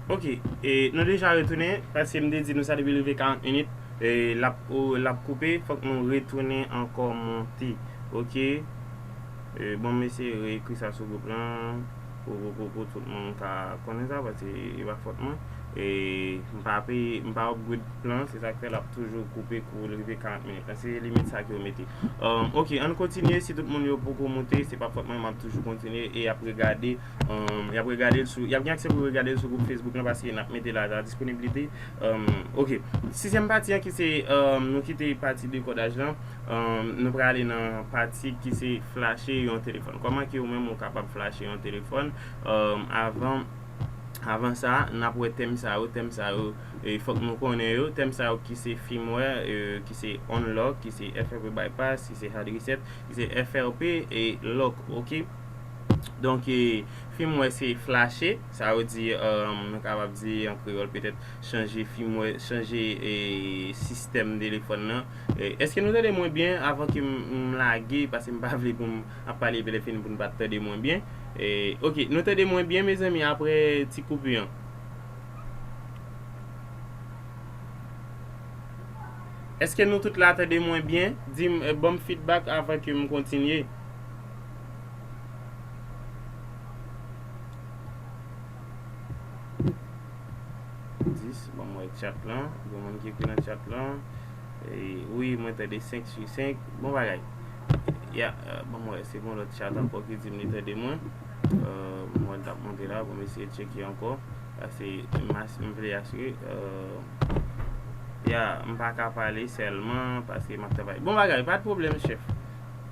Ok e nou deja retounen paske m te di nou sa depi l rive 40 minit e lap lap koupe fòk nou retounen ankò monte ok e bon m eseye re ekri sa sou gwoup lan. Kokokokou tout moun ka konnen sa paske e pa fòt mwen e m pa peye m pa upgrade plan se sak fè lap toujou koupe kou l rive 40 minit lan se limit sa ke yo mete umm ok ann kontinye si tout moun yo poko moute se pa fòt mwen map toujou kontinye e yap regade umm yap regade l sou yap gen aksè pou yo regade l sou gwoup Facebook lan paske nap mete la disponibilite umm ok sizyèm pati an ki se umm nou kite pati dekodaj lan. Nou prale nan pati ki se flache yon telefòn. Kòman ke ou menm ou kapab flache yon telefòn. Avan sa, n ap wè tèm sa yo. Tèm sa yo, fòk nou konnen yo. Tèm sa yo ki se firmware, ki se unlock, ki se FRP bypass, ki se hard reset, ki se FRP lock. Ok. Donk, firmware se flache. Sa yo di, nou kapab di an kreyòl petèt chanje firmware, chanje sistèm telefòn nan. Eske nou tande mwen byen avan ke m lage paske m pa vle pou m ap pale epi lè fini pou nou pa tande mwen byen ok nou tande mwen byen mezanmi apre ti koupi an eske nou tout la tande mwen byen di m ban m fidbak avan ke m kontinye. 10 banm wè chat lan gen moun ki ekri nan chat lan wi mwen tande 5 su 5 bon bagay ya banm wè se gon lòt chat ankò ki dim li tande mwen mwen tap monte la pou m eseye tcheke ankò pase m vle asire ya m paka pale sèlman pase map travay bon bagay pat pwoblèm chèf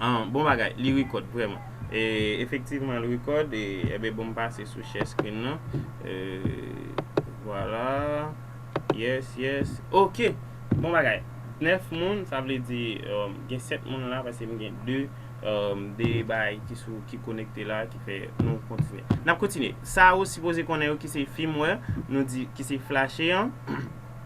Ahh bon bagay li record vreman. Efektivman l record enben bon m pase sou share screen nan Vwala Yes yes ok bon bagay 9 moun sa vle di gen 7 moun la paske m gen 2 2 bay ki sou ki konekte la ki fè nou kontinye. N ap kontinye sa ou sipoze konnen yo ki se firmware nou di ki se flashe an.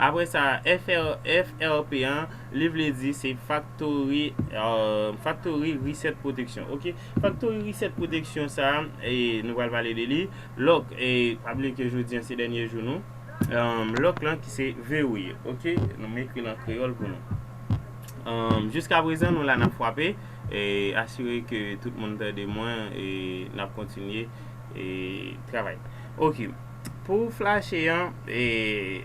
Apre sa, FRP an, li vle di se faktori, faktori reset pwoteksyon. Ok, faktori reset pwoteksyon sa, nou pral pale de li. Lòk, pa bliye ke jodi an se dènye jou nou. Lòk lan ki se verrouille. Ok, nou m ekri l an kreyòl pou nou. Jiska prezan nou la n ap fwape, asire ke tout moun tande mwen, n ap kontinye travay. Ok. Pou flache an,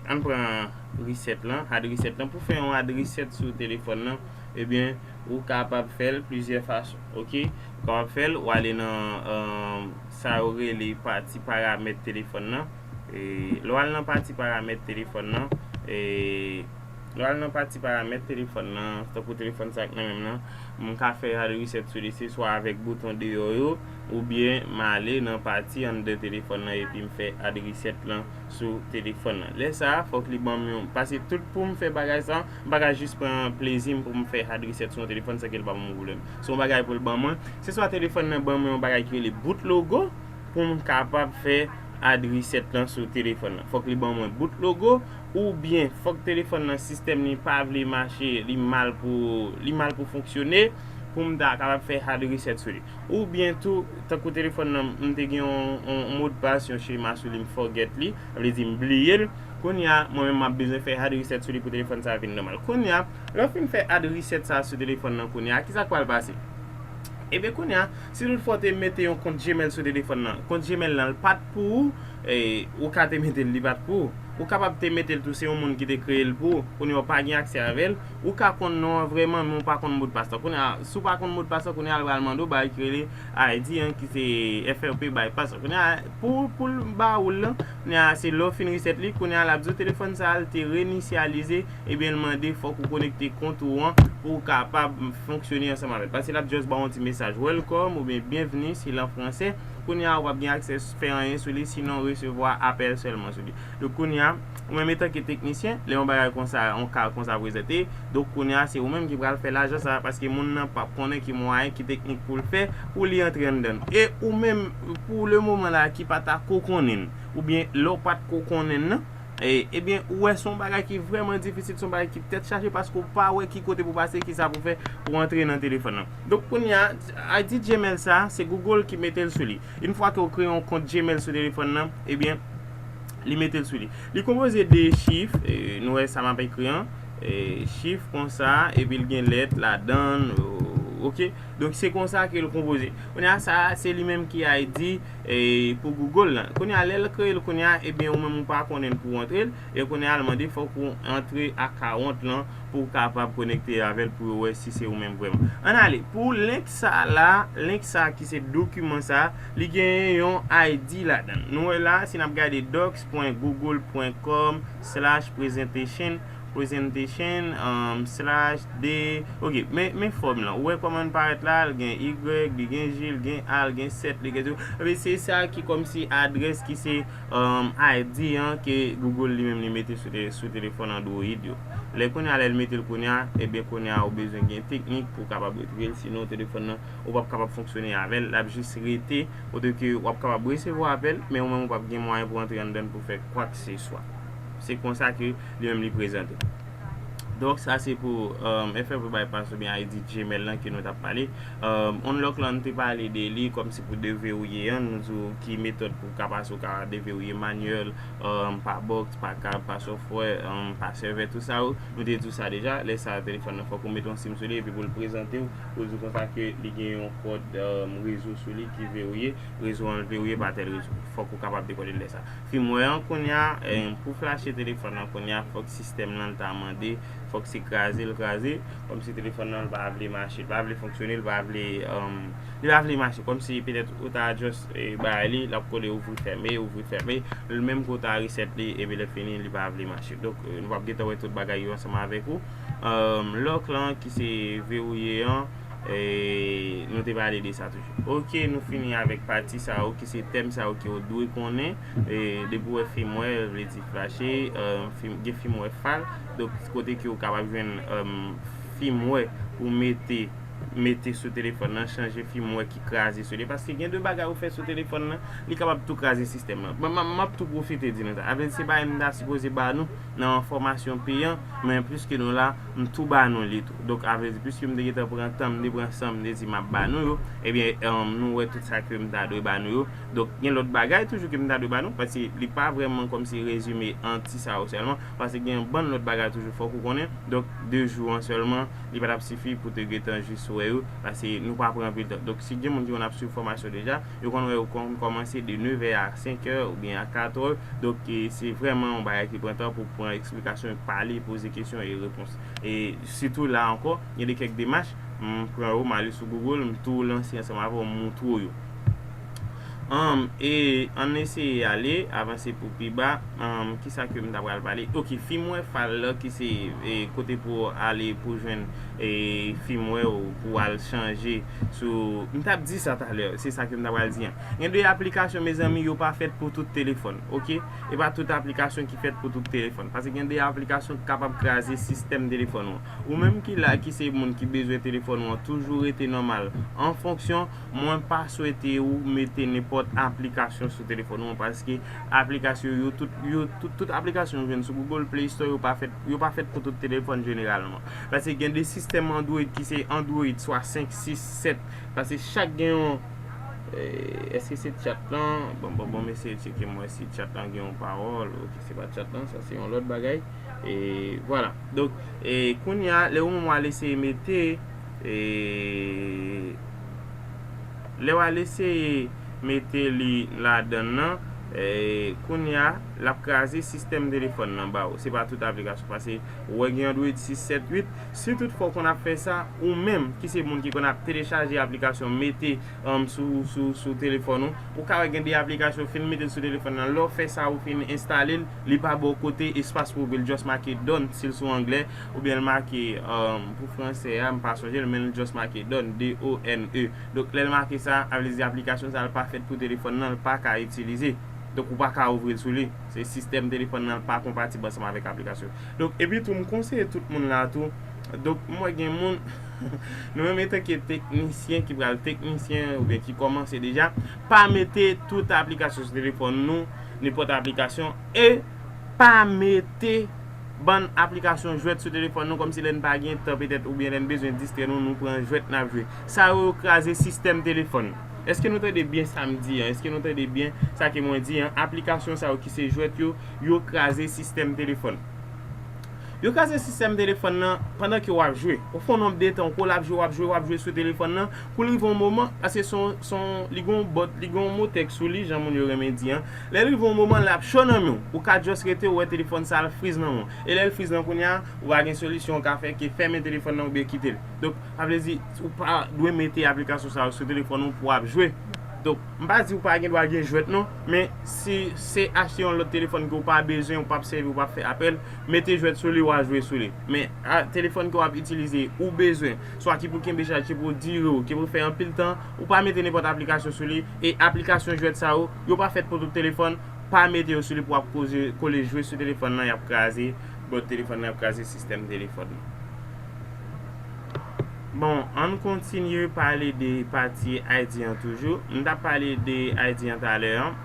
ann pran reset lan, add reset lan. Pou fè yon add reset sou telefòn lan, ebyen ou kapab fè l plizyè fason. Ok, ou kapab fè l, ou ale nan sa yo rele pati paramèt telefòn lan. Lè w al nan pati paramèt telefòn lan, lè w al nan pati paramèt telefòn lan, tankou telefòn sa ki nan men m lan, m ka fè add reset sou li se swa avèk bouton deyò yo. Oubyen m ale nan pati anndan telefòn lan epi m fè add reset lan sou telefòn lan. Lè sa a, fòk li ban m yon, pase tout pou m fè bagay sa a, m pa ka jis pran plezi m pou m fè add reset sou yon telefòn san ke l pa ban mwen pwoblèm. Se yon bagay pou l ban mwen. Se swa telefòn lan ban mwen yon bagay ki rele boot logo pou m kapab fè add reset lan sou telefòn lan. Fòk li ban mwen boot logo oubyen fòk telefòn lan sistèm li pa vle mache, li mal pou li mal pou fonksyone pou m ta kapab fè add reset sou li. Ou byen tou, tankou telefòn nan m te gen yon modpas, yon chema sou li m forget li, sa vle di m bliye l, kounye a mwen menm m ap bezwen fè hard reset sou li pou telefòn sa vin nòmal. Kounye a, lè w fin fè hard reset sa sou telefòn nan kounye a, kisa k pral pase? Ebyen kounye a, si tout fwa w te mete yon kont Gmail sou telefòn nan, kont Gmail nan l pa t pou ou, ou ka te mete l li pa t pou ou. Ou kapab te mete l tou se yon moun ki te kreye l pou ou, kounye a w pa gen aksè avè l, Ou ka konn non an vrèman men ou pa konn modpas lan. Kounye a, si w pa konn modpas lan, kounye a l pral mande w bagay ki rele ID an ki se FRP bypass lan. Kounye a, pou pou l ba ou l lan, kounye a se lè w fin reset li, kounye a l ap di w telefòn sa a l te renisyalize ebyen l mande fòk ou konekte kont ou an pou w kapab fonksyone ansanm avè l. Paske l ap just ba w yon ti mesaj welcome oubyen byenvni si l an franse. Kounye a ou p ap gen aksè fè anyen sou li sinon resevwa apèl sèlman sou li. Donk kounye a. Ou menm etanke teknisyen, lè yon bagay konsa, yon ka konsa prezante, donk kounye a se ou menm ki pral fè lajan sa a paske moun nan pap konnen ki mwayen, ki teknik pou l fè pou li antre anndan l. E ou menm, pou le moman la a ki pa ta ko konnen l, oubyen lè w pat ko konnen l nan, ebyen ou wè se yon bagay ki vrèman difisil, se yon bagay ki tèt chaje paske ou pa wè ki kote pou w pase, ki sa pou w fè pou w antre nan telefòn nan. Donk kounye a, ID Gmail sa a, se Google ki mete l sou li. Infwa ke ou kreye yon kont Gmail sou telefòn nan, ebyen. Li mete l sou li. Li konpoze de chif, nou wè sa m ap ekri an, chif konsa, epi l gen lèt ladan l, ok. Donk se konsa ke l konpoze. Kounye a sa a, se li menm ki al di pou Google lan. Kounye a lè l kreye l kounye a, ebyen ou menm ou pa konnen l pou w antre l, e kounye a l mande fòk ou antre akawont lan pou w kapab konekte avè l pou yo wè si se ou menm vrèman. An n ale pou link sa a la, link sa a ki se dokiman sa a. Li genyen yon ID ladan. Nou wè la, si n ap gade docs.google.com/presentation, presentation, slash, de, ok, men fòm lan. Ou wè kòman li parèt la, li gen y, li gen j, li gen a, li gen 7, li gen 0. Ebyen, se sa ki kòmsi adrès ki se ID an ke Google li menm li mete sou telefòn Android yo. Lè kounye a, lè li mete l kounye a, ebyen kounye a ou bezwen gen teknik pou w kapab retire l sinon telefòn nan. ou pap kapab fonksyone avè l, l ap jis rete kote ke w ap kapab resevwa apèl, men ou menm ou pap gen mwayen pou antre anndan l pou fè kwakseswa. Se konsa ke li menm li prezante. Donk sa se pou FFW Bypass oubyen ID Gmail lan ke nou t ap pale. Unlock lan nou te pale de li kòm se pou deverouye an, nou di w ki metòd pou w ka pase ou ka deverouye manyèl, pa box, pa kab, pa sòfwè, pa sèvè, tout sa yo, nou te di w sa deja, lè sa a telefòn nan fòk ou mete yon sim sou li epi pou l prezante w Pou di konsa ke li gen yon kòd rezo sou li ki verouye, rezo an verouye pa tèl rezo. Fòk ou kapab dekode lè sa. Firmware an kounya, pou flache telefòn lan kounya fòk sistèm lan ta mande, fòk se kraze l kraze, kòmsi telefòn lan pa vle mache, li pa vle fonksyone, li pa vle, li pa vle mache, kòmsi petèt ou ta just bay li, l ap kole ouvri fèmen, ouvri fèmen, menm ke ou ta reset li epi lè fini li pa vle mache. Donk nou pap gentan wè tout bagay yo ansanm avèk ou. Lock lan ki se verouye an nou te pale de sa toujou. Ok nou fini avèk pati sa yo ki se tèm sa yo ke ou dwe konnen depi ou wè firmware vle di flache gen firmware fal donk kote ke ou kapab jwenn firmware pou mete mete sou telefòn nan chanje firmware ki kraze sou li paske gen de bagay ou fè sou telefòn nan li kapab tou kraze sistèm nan. Map tou pwofite di nou sa avèk se bagay nou ta sipoze ba nou. nan yon fòmasyon peyan, men pliske nou la, m tou ba nou li tou. Donk a vle di pliske m te gentan pran tan m te pran san m te di map ba nou yo, ebyen nou wè tout sa ke m ta dwe ba nou yo. Donk gen lòt bagay toujou ke m ta dwe ba nou, paske li pa vrèman kòmsi rezime an ti sa yo sèlman, paske gen yon bann lòt bagay toujou fòk ou konnen. Donk 2 jou an sèlman li pa tap sifi pou te gentan jis wè yo, paske nou pa pran anpil tan. Donk si gen moun ki konn ap swiv fòmasyon deja, Yo konn wè yo konn kòmanse de nevè a senkè oubyen a katrè. Donk, se vrèman yon bagay ki pran tan pou pran eksplikasyon, pale, poze kesyon e repons. E sitou la ankò, gen de kèk demach, m pran yo, m ale sou Google, m tou lanse ansanm avè w, m moutre w yo. Anm, e ann eseye ale, avanse pou pi ba. Anm, ki sa ke m ta pral pale? Ok, fimwè fal la ki se kote pou w ale pou w jwenn fimwè ou pou w al chanje. Sou, m tap di sa talè, se sa ke m ta pral di an. Gen de aplikasyon mezanmi yo pa fèt pou tout telefòn ok. E pa tout aplikasyon ki fèt pou tout telefòn. Pase gen de aplikasyon ki kapab kraze sistèm telefòn ou an. Ou menm ki la ki se moun ki bezwen telefòn ou an toujou rete nòmal an fonksyon, mwen pa swete ou mete nenpòt aplikasyon sou telefòn ou an paske aplikasyon yo tout yo tout tout aplikasyon ou jwenn sou Google Play Store yo pa fèt yo pa fèt pou tout telefòn jeneralman. Pase gen de sistèm android ki se android swa 5, 6, 7 pase chak gen yon Eske se chat lan bon bon bon m eseye tcheke m wè si chat lan gen yon pawòl ok se pa chat lan sa se yon lòt bagay e vwala donk e kounye a lè ou menm wal eseye mete e lè wal eseye mete li ladann lan e kounye a lap kraze sistèm telefòn lan ba ou se pa tout aplikasyon pase. Ou wè gen Android 6, 7, 8, si tout fwa ou konn ap fè sa, ou menm ki se moun ki konn ap telechaje aplikasyon mete sou telefòn ou, ou ka wè gen de aplikasyon ou fin metel sou telefòn nan, lè w fè sa ou fin enstale l, li pa ba w kote espas pou ouvri l just make done si l sou anglè, oubyen l make pou fransè a m pa sonje l men l just make done, D-O-N-E. Donk lè l make sa, sa vle di aplikasyon sa l pa fèt pou telefòn nan, l paka itilize. Donk ou paka ouvri l sou li. Se sistèm telefòn nan pa konpatib ansanm avèk aplikasyon yo. Donk epi tou m konseye tout moun la tou, donk m wè gen moun nou menm etanke teknisyen ki pral teknisyen oubyen ki kòmanse deja, pa mete tout aplikasyon sou telefòn nou, nenpòt aplikasyon e pa mete bann aplikasyon jwèt sou telefòn nou kòmsi lè n pa gen tan petèt oubyen lè n bezwen distrè nou nou pran jwèt n ap jwe. Sa yo yo kraze sistèm telefòn. Eske nou tande byen sa m di an? Eske nou tande byen sa ke mwen di an? Aplikasyon sa yo ki se jwèt yo, yo kraze sistèm telefòn. Yo kraze sistèm telefòn nan pandan ke w ap jwe. Ou fè yon nonb de tan, ou koul ap jwe, w ap jwe, w ap jwe sou telefòn nan, pou l rive yon moman, paske se yon, se yon, li gen yon bòt, li gen yon motèk sou li, jan moun yo renmen di an, lè l rive yon moman, l ap cho nan men w. Ou ka just rete, ou wè telefòn sa al friz nan men w. E lè l friz nan, kounye a, ou pa gen solisyon ou ka fè ke fèmen telefòn nan oubyen kite l. Donk. Sa vle di, ou pa dwe mete aplikasyon sa yo sou telefòn ou pou ap jwe. Donk, m pa di ou pa gen dwa gen jwèt non, men si se achte yon lòt telefòn ke ou pa bezwen, ou pa ap sèvi, ou pa ap fè apèl, mete jwèt sou li wa jwe sou li. Men, telefòn ke w ap itilize, ou bezwen, swa ki pou kenbe chaj, ki pou dire ou, ki pou fè anpil tan, ou pa mete nenpòt aplikasyon sou li, e aplikasyon jwèt sa yo, yo pa fèt pou tout telefòn, pa mete yo sou li pou ap koze, kole jwe sou telefòn nan, y ap kraze bòd telefòn nan, y ap kraze sistèm telefòn nan. Bon ann kontinye pale de pati Ayiti an toujou. M tap pale de Ayiti an talè an.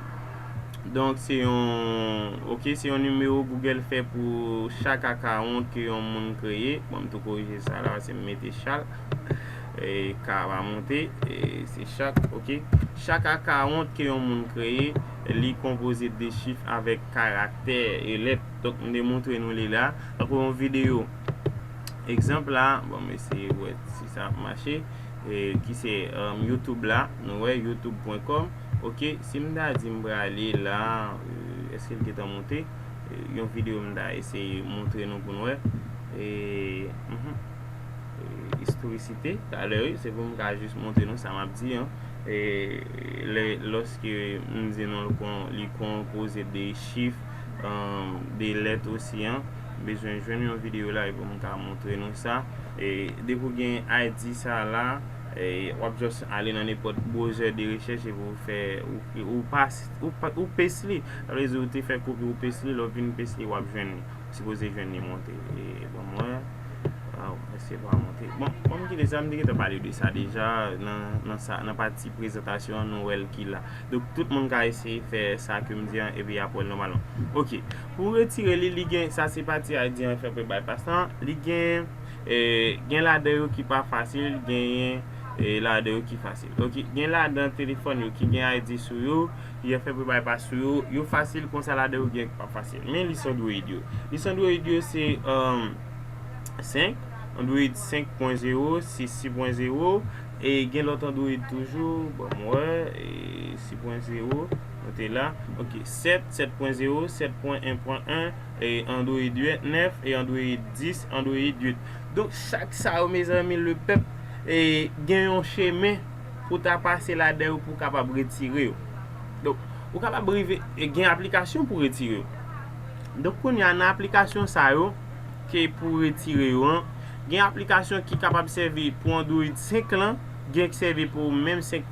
Donk se yon ok se yon nimewo Google fè pou chak akawont ke yon moun kreye. Bon m tou korije sa la paske m mete chal. E k a pa monte. E se chak ok. Chak akawont ke yon moun kreye li konpoze de chif avèk karaktè e lèt. Donk m te montre nou li la. Tankou yon videyo. Egzanp la, bon m eseye wè si sa ap mache, ki se YouTube la, nou wè youtube pwen kòm, ok, si m ta di m prale la, èske l gentan moute, yon videyo m ta eseye montre nou pou n wè, istorikite, talè wi, se pou m ka jis montre nou sa m ap di an, lòske m di nou li konpoze de chif, de lèt osi an. M bezwen jwenn yon video la pou m ka montre nou sa. E depi w gen ID sa la, w ap just ale nan nenpòt browser de rechèch epi w fè, ou pas, ou paste li. Sa vle di ou te fè kopi ou paste li, lè w fin paste li w ap jwenn li. Ou sipoze jwenn li monte. E ban m wè. Waw, èske l pa monte? Bon, an m kite sa, m te gentan pale de sa deja nan sa, nan pati prezantasyon an nou wè l ki la. Donk tout moun ka eseye fè sa ke m di an epi y ap wè l nòmalman. Ok, Pou retire li li gen sa se pati haydien an fè pou bypass lan li gen gen ladan yo ki pa fasil genyen ladan yo ki fasil ok gen ladan telefòn yo ki gen haydien sou yo yo fè pou bypass sou yo yo fasil konsa ladan yo gen yo ki pa fasil men lis android yo lis android yo se 5 android 5.0 si 6.0 e gen lòt android toujou banm wè 6.0 ok 7. 7.0, 7.1.1, Android 8, 9, Android 10, Android 8. Donk chak sa yo mezanmi le pèp gen yon chemen pou ta pase ladan yo pou kapab retire yo. Donk ou kapab rive gen aplikasyon pou retire yo. Donk kounye a nan aplikasyon sa yo ke pou retire yo an, gen aplikasyon ki kapab sèvi pou Android 5 lan, gen k sèvi pou menm 5.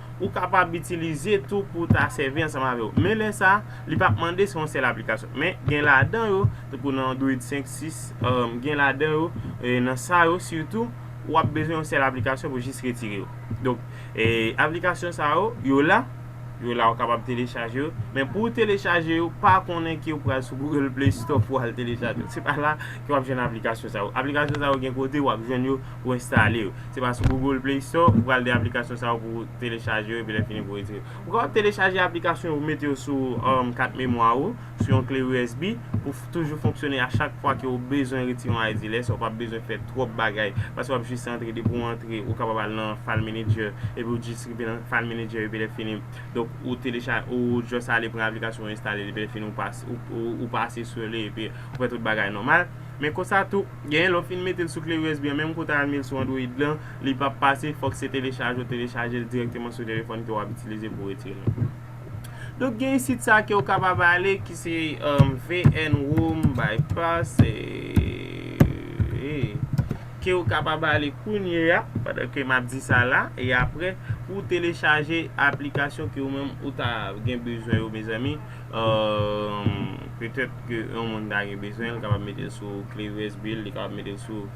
Ou kapab itilize tou pou ta sèvi ansanm avè yo. Men lè sa, li pap mande se yon sèl aplikasyon. Men gen ladan yo, tankou nan Android 5, 6, gen ladan yo, nan sa yo sitou, ou ap bezwen yon sèl aplikasyon pou jis retire yo. Donk, aplikasyon sa yo, yo la, yo la ou kapab telechaje yo, men pou ou telechaje yo, pa konnen ke ou pral sou Google Play Store pou al telechaje yo. Se pa la ke wap jwenn aplikasyon sa yo. Aplikasyon sa yo gen kote wap jwenn yo pou enstale yo. Se pa sou Google Play Store ou pral gen aplikasyon sa yo pou ou telechaje yo epi lè fini pou ou retire yo. Ou kapab telechaje aplikasyon yo ou mete yo sou kat memwa ou, sou yon kle usb pou toujou fonksyone a chak fwa ke ou bezwen retire yon ID lè sa ou pap bezwen fè twòp bagay paske wap jis antre depi ou antre ou kapab al nan file manager epi ou jis rive nan file manager epi lè fini donk ou telechaje ou just ale pran aplikasyon ou enstale li epi lè fini ou pase sou li epi ou fè tout bagay nòmal men konsa tou Genyen lè w fin metel sou kle usb an menm kou w ta al mel sou android lan li pap pase fok se telechaje w telechajel direkteman sou telefòn ke wap itilize pou retirel. Donk genyen sit sa kew kapab ale ki se vnrom bypass kew kapab ale kounyeya pandan ke map di sa la e apre pou w telechaje aplikasyon ke ou menm ou ta gen bezwen yo mezanmi. Petèt ke yon moun ta gen bezwen, li kapab mete l sou kle usb l, li kapab mete l sou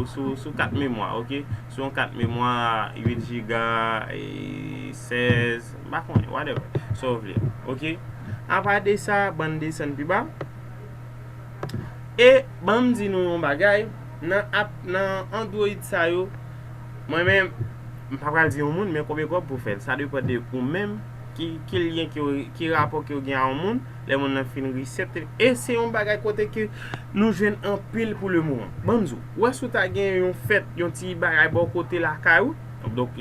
sou kat memwa ok, sou yon kat memwa 8 jiga, 16, m pa konnen whatever, sa w vle ok. Apa de sa, ban n desann pi ba. E ban m di nou yon bagay, nan android sa yo. Mwen menm m pa pral di yon moun men konbyen kòb pou fèl sa depan de ou menm ki lyen ke ki rapò kew gen a yon moun lè moun nan fin reset e se yon bagay kote ke nou jwenn anpil pou le moman banm di ou wè si ou ta gen yon fèt yon ti bagay bò kote lakay ou donk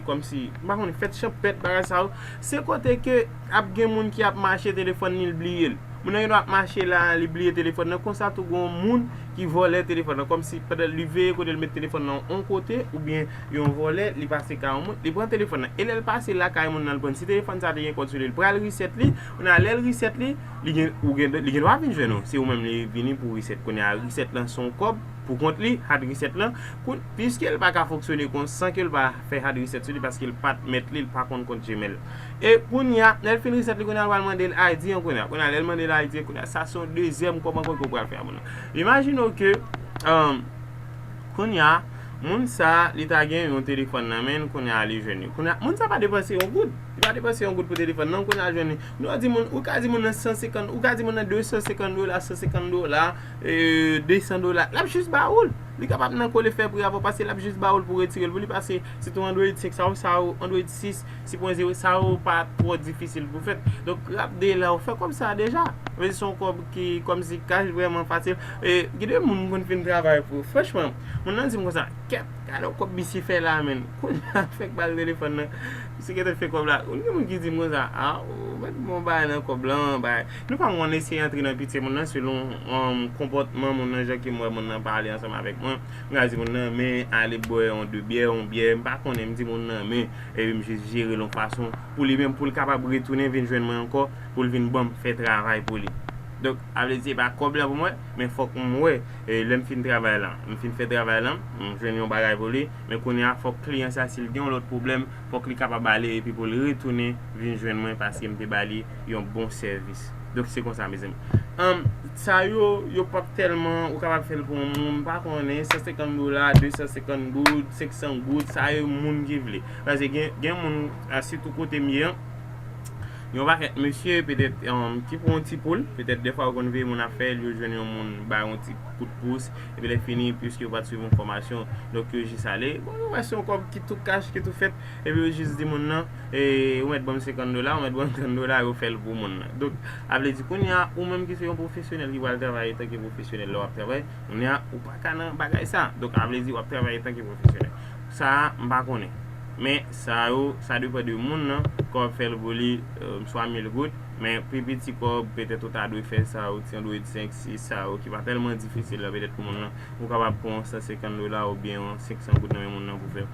kòm si m pa konnen fèt chanpèt bagay sa yo se kote ke ap gen moun ki ap mache telefòn li l bliyel moun nan gendwa ap mache la li bliye telefòn nan konsa tou gon moun ki vòlè telefòn nan kòmsi pandan li veye kote l met telefòn nan on kote oubyen yon vòlè li pase kay on moun li pran telefòn nan e lè l pase lakay moun nan l pran l si telefòn sa te gen kòd sou li l pral reset li kounye a lè l reset li li gen ou gen li gen dwa vin jwenn ou se ou menm li vini pou reset kounye a reset lan se yon kòb pou kont li hard reset lan koun piske l pa ka fonksyone kon san ke l pa fè hard reset sou li paske l pa t mèt li l pa konn kont gmail. E kounya lèl fin reset li kounya lwal mandel ID an kounya kounya lèl mandel ID an kounya sa son dezyèm kòman kòman ou pral fè a moun nan imajine w ke kounya moun sa li ta gen yon telefòn nan menn kounya li jwenn li kounya moun sa pa depanse yon goud li pa depanse yon goud pou telefòn nan kounya li jwenn li nou wè di moun ou ka di moun nan 150 ou ka di moun nan 250 dola 150 dola 200 dola lap jis ba ou l li kapab nan kole fè pri avè w paske lap jis ba ou l pou w retire l pou li pase sitou android 5 sa ou sa ou android 6 Sipoze sa yo pa twò difisil pou fèt. Donk rap de la ou fè kòb sa a deja. Ou vè di son kòb ki kòm si kach vrèman fasil. E gen de moun m konn fin travay pou yo. Franchman, moun nan di m konsa, kèt, gade yon kòb misye fè la a menn. Kounya a fèk bal telefòn nan, misye gentan fè kòb la. Konn gen moun ki di m konsa, a ou mèt bon bagay nan kòb lan an bagay. Nou pa konn eseye antre nan pitye moun nan selon konpòtman moun nan jan ke m wè moun nan pale ansanm avèk mwen. M ka di moun nan men ale bwè yon de byè, yon byè, m pa konnen, m di moun nan men. Ewi m jis jerel yon fason pou li menm poul kapab retounen vin jwenn mwen ankò poul vin banm fè travay pou li donk sa vle di se pa kòb la pou mwen men fòk m wè lèm fin travay lan m fin fè travay lan m jwenn yon bagay pou li men kounya fòk kliyan sa sil gen yon lòt pwoblèm fòk li kapab ale epi poul retounen vin jwenn mwen paskem te bali yon bon sèvis. Donk se konsa mezanmi. Anm sa yo yo pap tèlman ou kapab fèl pou yon moun pa konnen 150 dola, 250 goud, 500 goud sa yo moun ki vle. Pase gen gen moun a sitou kote m ye an yon pakèt mesye petèt ki pou yon ti poul, petèt dèfwa yo konn veye moun ap fèl yo jwenn yon moun ba yon ti kout pous epi lè fini piske yo pat swiv yon fòmasyon donk yo jis ale bon yo wè se yon kòb ki tou kach ki tou fèt epi yo jis di moun nan. Ou mèt banm 50 dola, ou mèt banm 30 dola yo fèl pou moun nan. Donk, ap vle di kounya ou menm ki se yon pwofesyonèl ki pral travay etan ke pwofesyonèl lè wap travay, kounya ou pa ka nan bagay sa. Donk, ap vle di wap travay etan ke pwofesyonèl. Sa, m pa konnen. Men, sa yo, sa depan de moun nan, ke wap fèl pou li, swa 1000 goud, men pi piti kòb, petèt ou ta dwe fè sa yo, ti android 5, 6, sa yo ki pa tèlman difisil la, petèt pou moun nan, ou kapab pran yon 150 dola oubyen yon 500 goud nan men moun nan pou fè.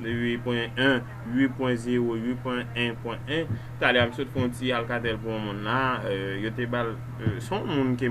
8.1 8.0 8.1.1 Talè a m sot fè yon ti alcatel pou yon moun la yo te ba l se yon moun ke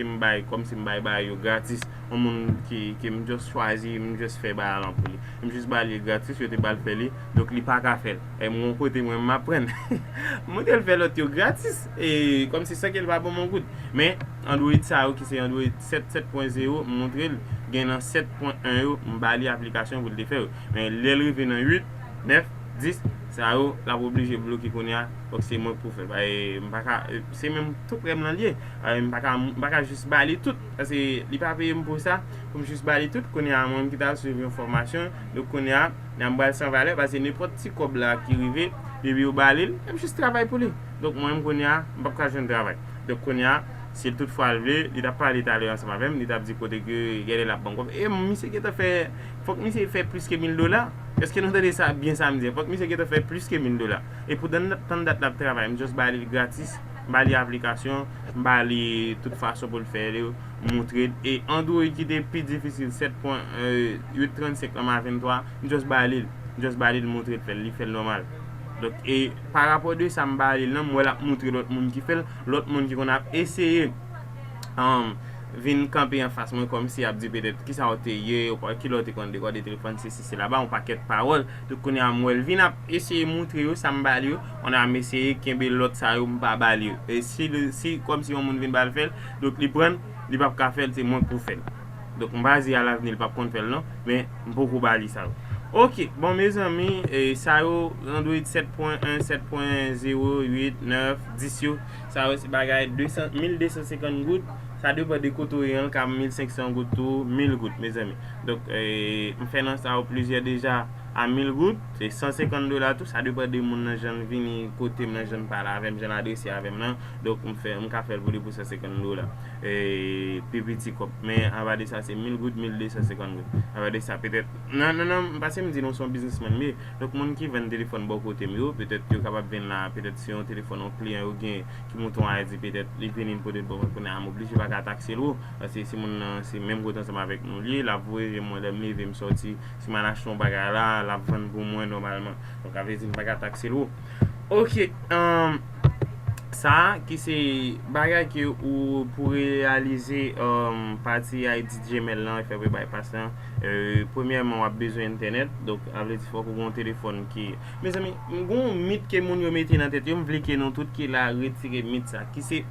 m bay kòmsi m bay bagay yo gratis yon moun ke m just chwazi m just fè bagay lan pou li m just ba l li gratis yo te ba l fè li donk li pa ka fè l e m yon kote mwen m aprann m montre l fè lòt yo gratis e kòmsi san ke l pa ban m yon goud men. Android sa yo ki se Android 7, 7.0 m montre l gen nan 7 pwen 1 yo m ba li aplikasyon pou l te fè yo men lè l rive nan 8, 9, 10 sa yo l ap oblije bloke kounye a fòk se mwen pou fè l paske m pa ka se menm tout prè m lan l ye m pa ka m pa ka jis ba li tout paske li pa peye m pou sa pou m jis ba li tout kounye a mwen ki ta swiv yon fòmasyon donk kounye a nan m ba l san valè paske nenpòt ti kòb la ki rive depi yo ba li l m jis travay pou li donk mwen menm kounye a m p ap ka jwenn travay. Donk kounye a, si l tout fwa l vle, li t ap pale talè ansanm avè m, li t ap di kote ke genlè l ap ban m kòb. E misye gentan fè, fòk misye fè plis ke mil dola. Eske nou tande sa byen sa m di an? Fòk misye gentan fè plis ke mil dola. E pou dan tann dat l ap travay, m just ba li l gratis, m ba li aplikasyon, m ba li tout fason pou l fè l yo, m montre l. E Android ki te pi difisil 7 pwen, 8 35 lan m a 23, m just ba li l. M just ba li l, m montre l fè l, li fè l nòmal. Donk e pa rapò de sa m pa ale l nan m wè l ap moutre lòt moun ki fè l, lòt moun ki konn ap eseye vin kanpe anfas mwen kòmsi y ap di petèt ki sa w te ye, ki lè w te konn dekòde telefòn sesi sela ba yon pakèt pawòl. Donk kounye a m wè l vin ap eseye moutre yo sa m ba l yo, kounye a m eseye kenbe lòt sa yo m pa ba l yo. E si kòmsi yon moun vin ba l fè l, donk li pran l, li pap ka fè l se mwen k pou fè l. Donk m pa di a lavni l pap konn fè l non, men m poko ba li sa yo. Ok, bon mezanmi sa yo Android 7 pwen 1, 7 pwen 0, 8, 9, 10 yo, sa yo se bagay 200, 1250 goud, sa depan de kote w ye an l ka 1500 goud tou, 1000 goud mezanmi. Donk m fè nan sa yo plizyè deja a 1000 goud, se 150 dola tou, sa depan de moun nan jan l vini kote m nan, jan l pale avè m, jan l adrese avè m nan, donk m fè, m ka fè l pou li pou 150 dola. Pi piti kòb. Men ava de sa se mil goud, mil de san senkant goud. Ava de sa petèt. Nan nan nan, pase m di nou se yon biznismann m ye. Donk moun ki vann telefòn bò kote m yo, petèt yo kapab vin la, petèt se yon telefòn yon kliyan yo gen ki moute yon Ayiti petèt li vini m pote l pou mwen kounye a m oblije pa ka takse l wo. Paske si moun nan se menm kote ansanm avèk nou l ye, l ap voye jan mwen lè m leve m sòti, si m al achte yon bagay la, l ap vann pou mwen nòmalman. Donk sa vle di m pa ka takse l wo. Ok humm sa ki se bagay ke ou pou reyalize humm pati ID Gmail lan fè pou bay pas lan premyèman wap bezwen entènèt donk sa vle di fòk ou gen yon telefòn ki mezanmi m gen yon mit ke moun yo mete nan tèt yo m vle ke nou tout ki la retire mit sa ki se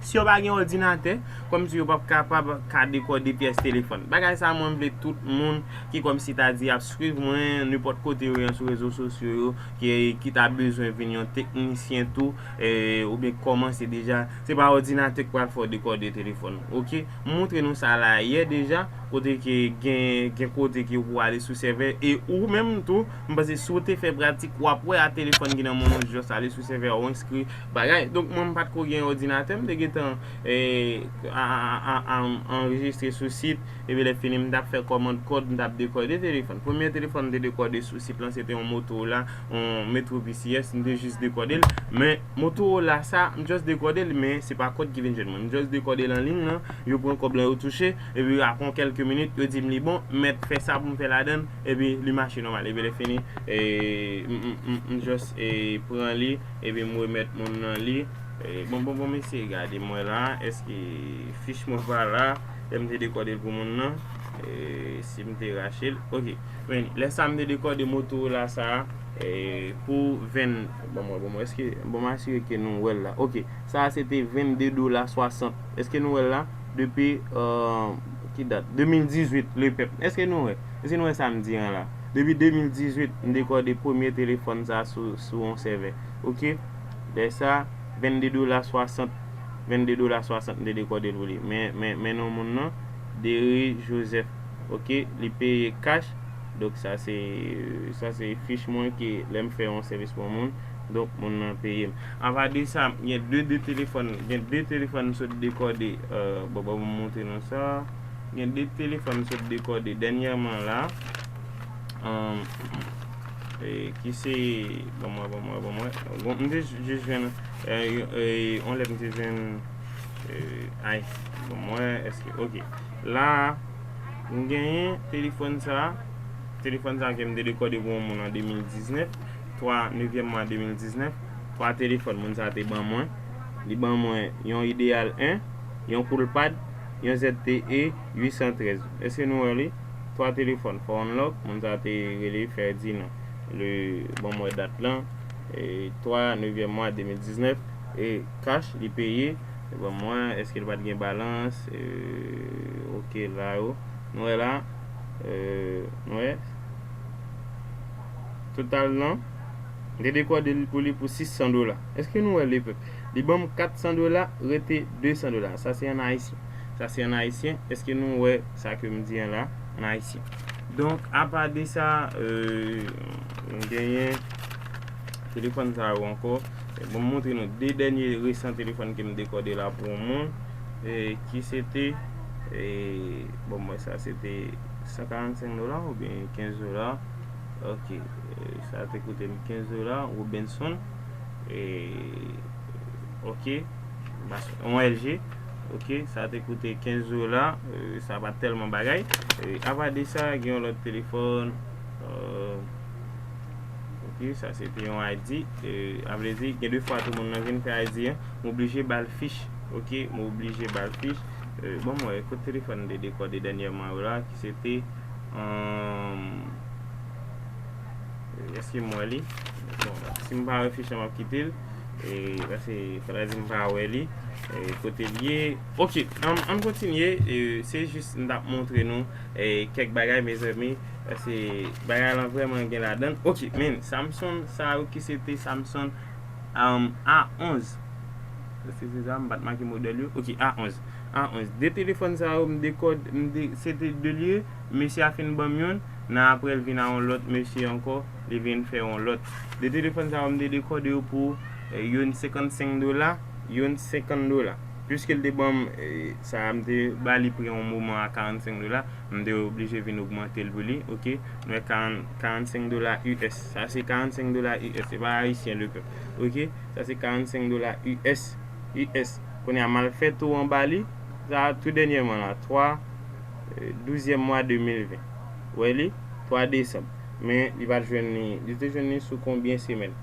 si yo pa gen òdinatè kòm si yo pap kapab ka dekòde pyès telefòn bagay sa mwen m vle tout moun ki kòm si ta di yap. Swiv mwen nenpòt kote ou ye sou rezo sosyo yo ki ta bezwen vin yon teknisyen tou oubyen ki kòmanse deja se pa òdinatè ki pral fè w dekòde telefòn ok m moutre nou sa la yè deja kote ke gen kote ke ou pou ale sou sèvè e ou menm tou m panse si w te fè pratik wap wè a telefòn ki nan men w ou just ale sou sèvè a ou enskri bagay donk mwen m pat ko gen òdinatè m te gentan anrejistre sou sit. Epi lè fini m t ap fè kòmand kòd m t ap dekòde telefòn. Premye telefòn m te dekòde sou sit lan se te yon Motorola, yon Metro VCS, m te jis dekòde l. Men Motorola sa, m just dekòde l men se pa kòd ki vin jwenn mwen. M just dekòde l an liy lan, yo pran kòb lan yo touche, epi apre kèlke minit yo di m li bon, m mèt fè sa pou m fè ladan l, epi li mache nòmal. Epi lè fini m just pran li epi m remèt moun lan li. Bon bon bon mesye gade mwen la, èske fich mwen pa la? Lè m te dekòde l pou moun nan, si m te rache l, ok. Men, lè sa m te dekòde Motorola sa a pou 20, ban m wè, ban m wè, èske, ban m asire ke nou wè l la, ok. Sa a se te 22 dola 60, èske nou wè l la? Depi, ki dat? 2018, lepèp. Èske nou wè? Èske nou wè sa m di an la? Depi 2018, m dekòde premye telefòn sa a sou yon sèvè, ok. Lè sa. 22 dola 60 22 dola 60 m te dekode l pou li men men men non moun nan Dere Joseph ok li peye cash donk sa se sa se fich mwen ke lè m fè yon sèvis pou yon moun donk moun nan peye m apa de sa gen 2 de telefòn gen 2 telefòn m sot dekode bon ban m montre nou sa gen 2 telefòn m sot dekode dènyèman la. Ki se Bon mwen bon mwen bon mwen Bon m te jis jwenn On lè m te jwenn Ice Bon mwen eske ok La a m genyen telefòn sa a Telefòn sa a ke m te dekòde pou on moun an 2019 3 nevyèm mwa 2019 3 telefòn moun sa a te ban mwen Li ban mwen yon Ideal 1 Yon Coolpad Yon ZTE 813 Eske nou wè li 3 telefòn fò unlock moun sa te rele Ferdinand le banm wè dat lan 3 nevyèm mwa 2019 e cash li peye banm wè eske li pat gen balans ok la yo nou wè la nou wè total lan m te dekòde l pou li pou 600 dola eske nou wè lepèp li banm 400 dola rete 200 dola sa se an ayisyen. Sa se an ayisyen. Eske nou wè sa ke m di an la an ayisyen? Donk, apa de sa, nou genyen telefòn sa yo ankò. Bon m montre nou 2 dènye resan telefòn ke m dekòde la pou yon moun ki se te, bon m wè sa se te 145 dola oubyen 15 dola. Ok, sa te koute m 15 dola, Robinson. Ok, yon LG. Ok sa te koute 15 dola sa pa telman bagay apa de sa gen yon lot telefon ok sa se te yon ID a vle di gen 2 fwa tou moun nan vin fè ID an m oblije ba l fich ok m oblije ba l fich bon m wè kot telefon m te dekode dènyèman yo la ki se te Eske m wè li? Bon, si m pa wè fiche an m ap kite l. Paske fatra di m pa wè li. Kote l ye? Ok, an m kontinye. Se jis m t ap montre nou kèk bagay mezanmi. Paske bagay lan vrèman gen ladan l. Ok, men Samsung sa yo ki se te Samsung A11. Eske se sa? M pa t make modèl yo. Ok, A11. A11. De telefòn sa yo m dekode, se te 2 l ye. Mesye a fin ban m youn. Nan aprè l vin a yon lòt mesye ankò, li vin fè yon lòt. 2 telefòn sa yo m te dekòde yo pou youn 55 dola, youn 50 dola. Piske l te ban m sa a m te ba li pri yon moman a 45 dola, m te oblije vin ogmante l pou li, ok. Nou wè 40, 45 dola US. Sa se 45 dola US, se pa ayisyen le pèp, ok. Sa se 45 dola US, US. Kounye a m al fè tou anba li, sa a tou dènyèman la, 3. Douzyèm mwa 2020. Wè li? 3 desanm. Men, li pa t jwenn li. Li te jwenn li sou konbyen semèn?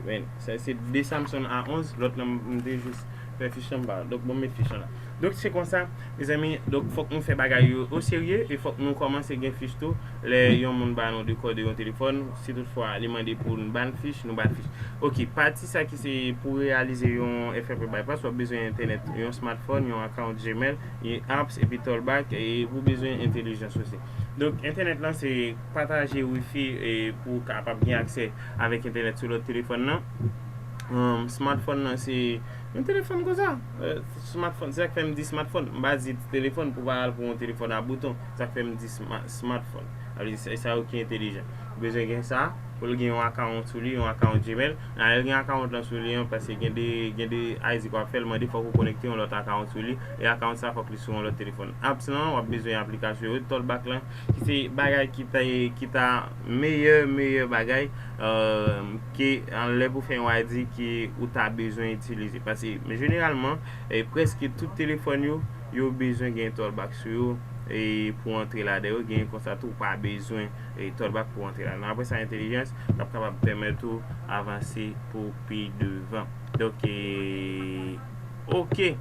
Men, sa se 2 Samson a 11. Lòt lan, m te jis fè fich lan, m pa. Donk, bon m met fich lan la. Donk, se konsa, mezanmi, donk fòk nou fè bagay yo oserye e fòk nou kòmanse gen fich tou. Lè yon moun ba nou dekòde yon telefòn, si tout fwa li mande pou n ba l fich, nou ba l fich. Ok, pati sa ki se pou reyalize yon FFP Bypass, w ap bezwen entènèt, yon smartphone, yon account Gmail, e apps epi tollback e pou bezwen entelijans osi. Donk entènèt lan se pataje wifi e pou w kapab gen aksè avèk entènèt sou lòt telefòn nan. Smartphone nan se yon telefòn konsa. Smartphone, se sa k fè m di smartphone. M pa di telefòn pou w pa al pou yon telefòn a bouton. Se sa k fè m di smartphone. Sa vle di sa yo ki entelijan. Ou bezwen gen sa pou l gen yon account sou li, yon account Gmail. Naël gen account lan sou li an paske gen de gen de Isaac wap fèl mande fòk ou konekte yon lòt account sou li e account sa fòk li sou yon lòt telefòn apps lan wap bezwen aplikasyon yo tòl back lan ki se bagay ki ta ki ta meyè meyè bagay ke lè pou fè yon ID ke ou ta bezwen itilize paske jeneralman prèske tout telefòn yo yo bezwen gen tòl back sou yo pou antre ladan yo gen konsa tou ou pa bezwen e tòl bak pou antre la nan apre sa entelijans lap kapab pèmèt ou avanse pou pi devan donk e ok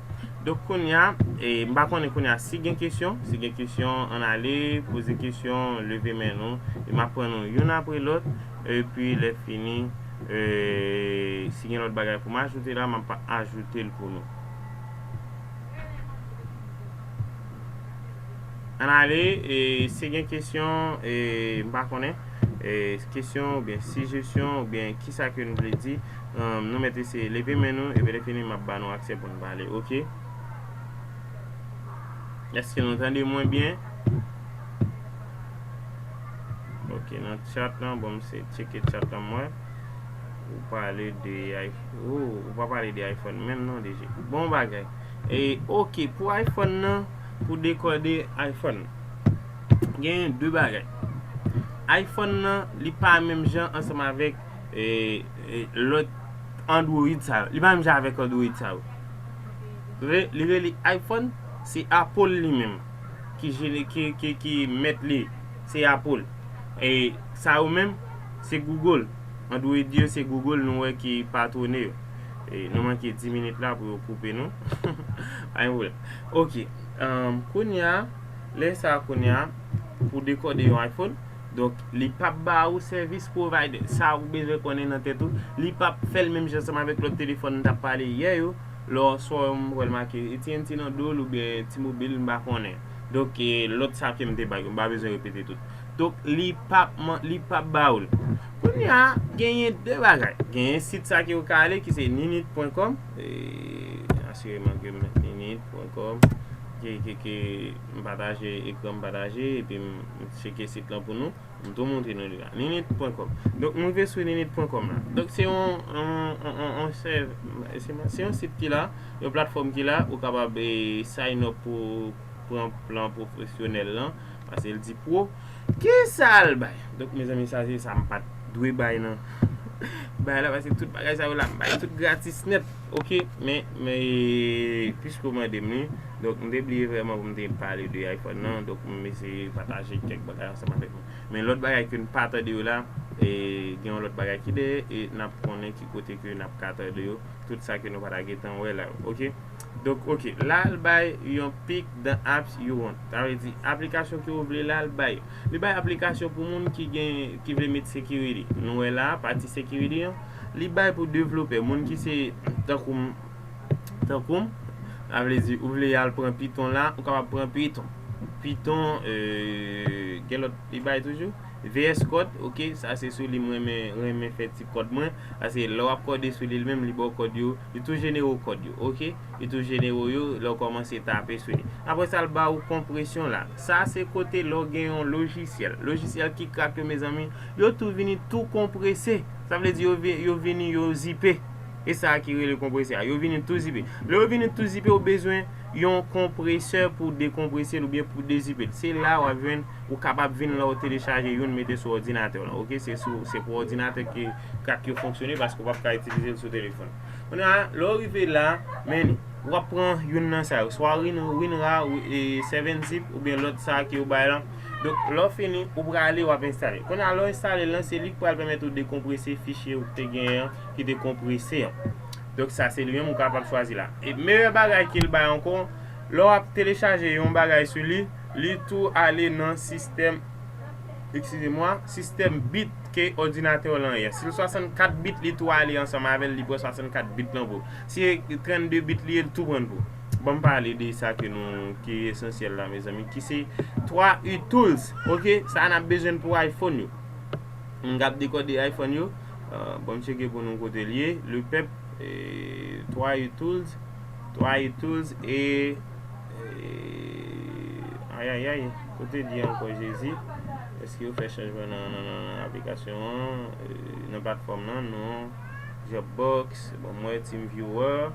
donk kounya e m pa konnen kounya si gen kesyon si gen kesyon ann ale poze kesyon leve men nou e map pran nou youn apre lòt epi lè fini e si gen lòt bagay pou m ajoute la map ajoute l pou nou. Ann ale e si gen kesyon e m pa konnen e kesyon oubyen sijesyon oubyen kisa ke nou vle di nou mèt eseye leve men nou epi lè fini m ap ba nou aksè pou nou pale ok. Eske nou tande mwen byen? Ok nan chat lan bon m eseye tcheke chat lan m wè ou pale de ayfò ooh ou pa pale de ayfòn menm non DG. Bon bagay e ok pou ayfòn nan. Pou dekode iPhone genyen 2 bagay iPhone nan li pa menm jan ansanm avèk lòt Android sa yo li pa menm jan avèk Android sa yo li rele iPhone se Apple li menm ki mèt li se Apple sa yo menm se Google Android yo se Google nou wè ki patwone yo nou manke 10 minit la pou yo koupe nou pa gen pwoblèm Ok kounya lè sa kounya pou dekòde yon iPhone donk li pap ba ou sèvis provider sa ou bezwen konnen nan tèt ou li pap fèl menm jan seman avèk lòt telefòn nou tap pale yè yo lè w sò yo m wèl make AT&T nan dol oubyen T-mobile m pa konnen donk lòt sa kem te bay yo m pa bezwen repete tout donk li pap li pap ba ou l kounya genyen 2 bagay genyen sit sa ke ou ka ale ki se ninit pwen kòm. Asireman ke m met limit pou enkòm. Ke m pataje ekran m pataje epi m tcheke sit lan pou nou. M tou montre nou li la. Limit pwen kòm. Donk m rive sou limit pwen kòm la. Donk se yon sit ki la, yon platfòm ki la ou kapab sign up pou. pran plan pwofesyonèl lan pase l di pwo kisa l bay donk mezanmi sa se sa m pat dwe bay nan bay la pase tout bagay sa yo la m bay tout gratis nèt ok men piske w mande m li donk m te bliye vrèman pou m te pale de iphone nan donk m eseye pataje kèk bagay ansanm avèk nou men lòt bagay ke n pa tande yo la e gen yon lòt bagay ki dèyè e n ap konnen ki kote ke n ap ka tande yo tout sa ke nou pa ta gentan wè la yo ok. Donk ok la l bay yon pic dans apps you want sa vle di aplikasyon ke ou vle la l bay li bay aplikasyon pou moun ki gen ki vle met security nou wè la a pati security an li bay pou developè moun ki se tankou m tankou m sa vle di ou vle al pran python la ou kapab pran python python eee gen lòt li bay toujou. VS kòd ok sa se sou li m renmen renmen fè ti kòd mwen paske lè wap kòde sou li li menm li baw kòd yo li tou jenere w kòd yo ok li tou jenere w yo lè w kòmanse tape sou li aprè sa l ba ou konpresyon la sa se kote lè w gen yon lojisyèl lojisyèl ki krak yo mezanmi yo tou vini tou konprese sa vle di yo vini yo zipe e sa ki rele konprese a yo vini tou zipe lè yo vini tou zipe ou bezwen yon konpresè pou dekonprese l oubyen pou dezipe l se la wap jwenn. Ou kapab vin la ou telechaje youn mete sou òdinatè w lan ok se sou se pou òdinatè ke kat yo fonksyone paske ou pap ka itilize l sou telefòn kounye a lè ou rive la men ou ap pran youn nan sa yo swa winra e 7 zip oubyen lòt sa ke yo bay lan donk lè ou fini ou prale wap enstale kounye a lè ou enstale l lan se li ki pral pèmèt ou dekonprese fichye ou te genyen an ki te konprese an donk sa se li menm ou kapab chwazi la e meyè bagay ke l bay ankò lè wap telechaje yon bagay sou li. Li tou ale nan sistèm, eskize mwa, sistèm bit ke òdinatè w lan ye. Si l 64 bit, li tou ale ansanm avè l, li pran 64 bit lan pou ou. Si e 32 bit li ye, li tou pran l pou ou. Ban m pale de sa ke nou, ki esansyèl la mezanmi, ki se 3 utils, ok, sa n ap bezwen pou iPhone yo. M k ap dekòde iPhone yo. Ban m tcheke pou nou kote l ye. Le pèp, 3 utils, 3 utils e. Ayayay kote li ankò jezi. Eske yo fè chanjman nan aplikasyon an nan platfòm nan non Dropbox bon m wè TeamViewer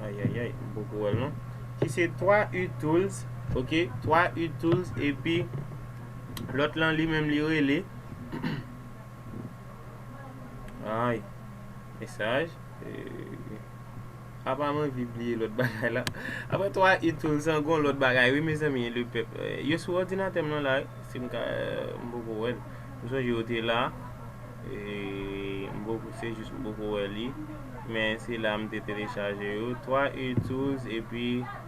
ayayay m poko wèl non ki se 3 u tools ok 3 u tools epi lòt lan li menm li rele ay mesaj. Apa mwen vi bliye lòt bagay la. Aprè 3 it tou l san gon lòt bagay wi mezanmi le pèp. Yo sou òdinatè m lan la wi si m ka m poko wè l. M sonje yo te la m poko se jis m poko wè li men se la m te telechaje yo 3 it tools epi.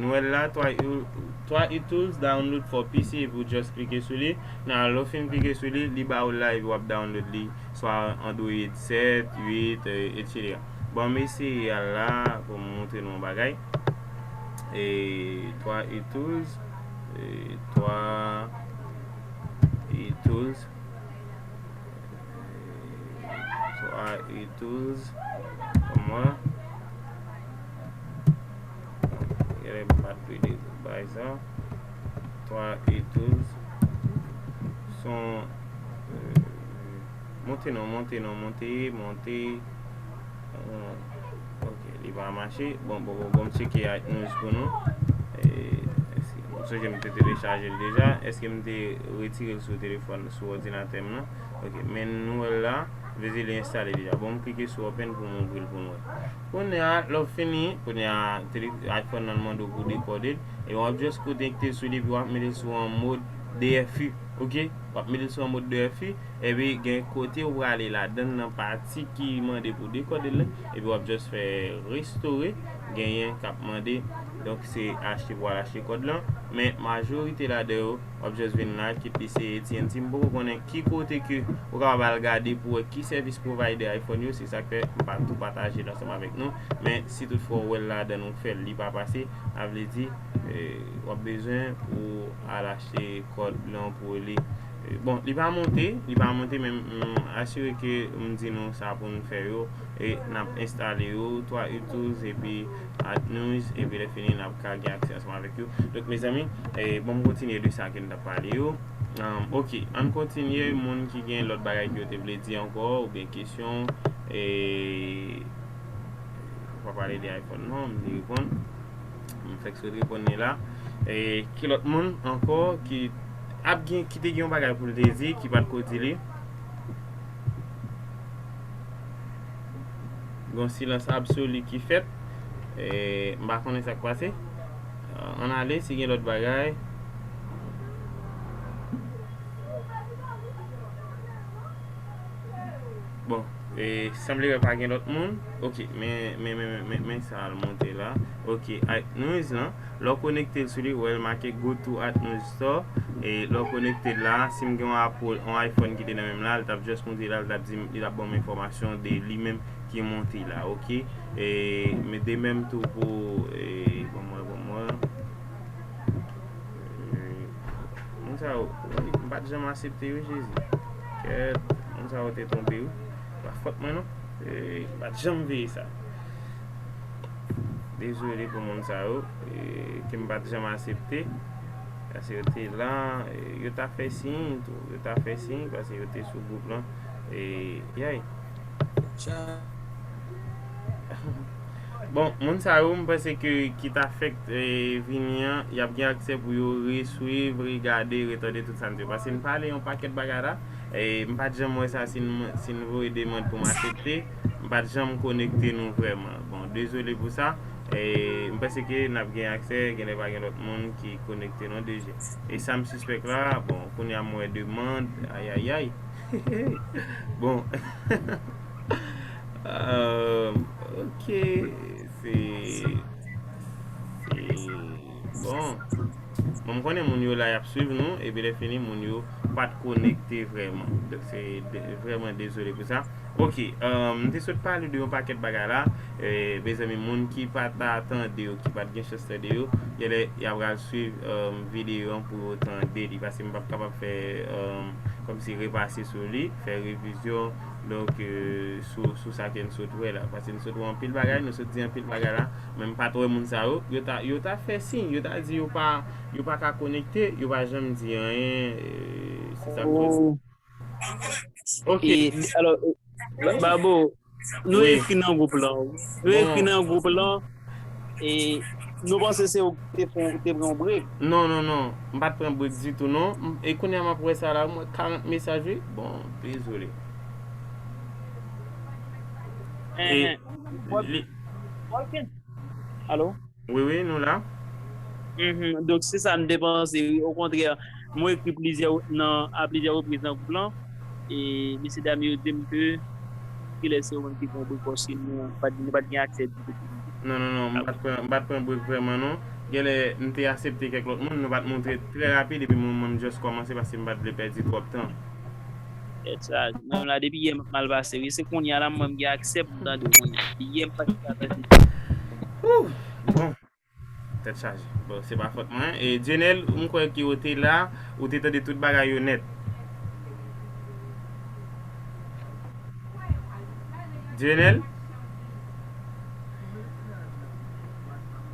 Nou wè l la, 3 it tools download for PC epi ou just klike sou li. Nan lè w fin klike sou li, li ba ou l la epi w ap download li swa Android 7, 8 etc. Bon m eseye al la pou m montre nou yon bagay. 3 it tools 3 it tools. So I ituz pou mwen. Gade m pat dwe de bay sa. So I ituz. Son euh, monte non, monte non, monte, monte. Euh, ok, li va mache. Bon, bon, bon, bon, m cheke iTunes pou nou. Mwen sonje m te telechaje l deja. Eske m te retire l sou telefòn, sou òdinatè m nan? Ok men nou wèl la Vezi li enstale deja bon m klike sou open pou m ouvril pou n wè Kounye a lè w fini kounye a iPhone nan mande w pou dekode l e wap just konekte sou li epi wap mete l sou an mod dfi ok wap mete l sou an mod dfi epi gen kote ou prale ladann nan pati ki mande pou dekode l epi wap just fè restore genyen kap mande donk se achte pou al achte kòd lan men majorite ladan yo wap just vin la ki plis se AT&T m poko konnen ki kote ke ou kapab al gade pou wè ki service provider iPhone yo se sak fè m pa tou pataje l ansanm avèk nou men si tout fwa ou wèl ladann ou fèl li pa pase sa vle di wap bezwen pou al achte kòd lan pou rele bon li pa monte li pa monte men asire ke m di nou sa pou nou fè yo e nap enstale yo 3 u tools epi Ad news epi lè fini nap ka gen aksè ansanm avèk yo donk mezanmi banm kontinye de sa ke nou tap pale yo ok ann kontinye moun ki gen lòt bagay ke yo te vle di ankò oubyen kesyon mwen pa pale de iphone non m te reponn m fèk sot reponn li la ki lòt moun ankò ki ap gen ki te gen yon bagay pou l te di ki pat ko di li. Gon silans absoli ki fèt. M pa konnen sa k pase. Ann ale si gen lòt bagay. Bon, sanble wè pa gen lòt moun. Ok, men sa al monte la. Ok, Ait Noise lan. Lè w konekte l sou li, ou wè l make Go to Atmos Store. E lè w konekte l la, si m gen yon Apple, yon iPhone ki te nan men m la, l t ap just montre la, l t ap di m, li t ap ban m enfòmasyon de li menm ki monte la, ok. E men de menm tou pou, e ban m wè, ban m wè. E moun sa yo, wi, m pa t janm asepte yo Jezi. Kèèt, moun sa yo te twonpe wi. Pa fòt mwen non. E m pa t janm veye sa. Dezole pou moun sa yo ke m pa t janm asepte. Paske yo te la, yo ta fè siy tou. Yo ta fè siy paske yo te sou gwoup lan. Bon, moun sa yo m panse ke ki ta fèk vini an, y ap gen aksè pou yo resuiv, regade, retande tout sa n di. Paske n pale yon pakèt bagay la. M pa t janm wè sa si n voye demand pou m asepte. M pat janm konekte nou vrèman. Bon dezole pou sa. M panse ke nap gen aksè genlè pa gen lòt moun ki konekte non DG. E sam sispèk la, bon kounya m wè demand ayayay hehe bon ahh ok se. Bon Bon m konnen moun yo la yap swiv nou epi lè fini moun yo pat konekte vrèman donk se vrèman dezole pou sa ok m te sot pale de yon pakèt bagay la mezanmi moun ki pa ta tande yo ki pat gen chans tande yo genlè ya pral swiv videyo an pou yo tande li paske m pap kapab fè kòmsi repase sou li fè revizyon donk sou sa ke n sot wè la paske n sot wè anpil bagay nou sot di anpil bagay la. Men m pa t wè moun sa yo. Yo ta yo ta fè siy, yo ta di yo pa yo pa ka konekte, yo pa janm di anyen se sa k fè sa. Ok alò Babo nou ekri nan gwoup lan nou ekri nan gwoup lan e nou panse se ou ki te fon ou te pran yon brek. Non non non m pa t pran brek ditou non e kounya m ap wè sa la m wè 40 mesaj wi bon dezole. Ok Alo? Wi wi nou la. Mph donk se sa n te panse wi okontrè mwen ekri plizyè nan a plizyè repriz nan gwoup lan e mesye dam yo di m ke kilè se yo menm ki pran brek paske nou pa t nou pa t gen aksè ditou pou nou. Non non non m pa t pran m pa t pran brek vrèman non genlè m te asepte kèk lòt moun nou pa t montre trè rapid epi mwen m just kòmanse paske m pa t vle pèdi twòp tan. Tèt chaj. Mwen menm la depi yè map mal pase wi. Se konnya la mwen gen aksè pou m tande w konnya. Depi yè m pa gen aksè pou m tande w. Ooh! Bon. Tèt chaje. Bon se pa fòt mwen. E Dieunel m kwè ke w te la, ou te tande tout bagay yo nèt. Dieunel?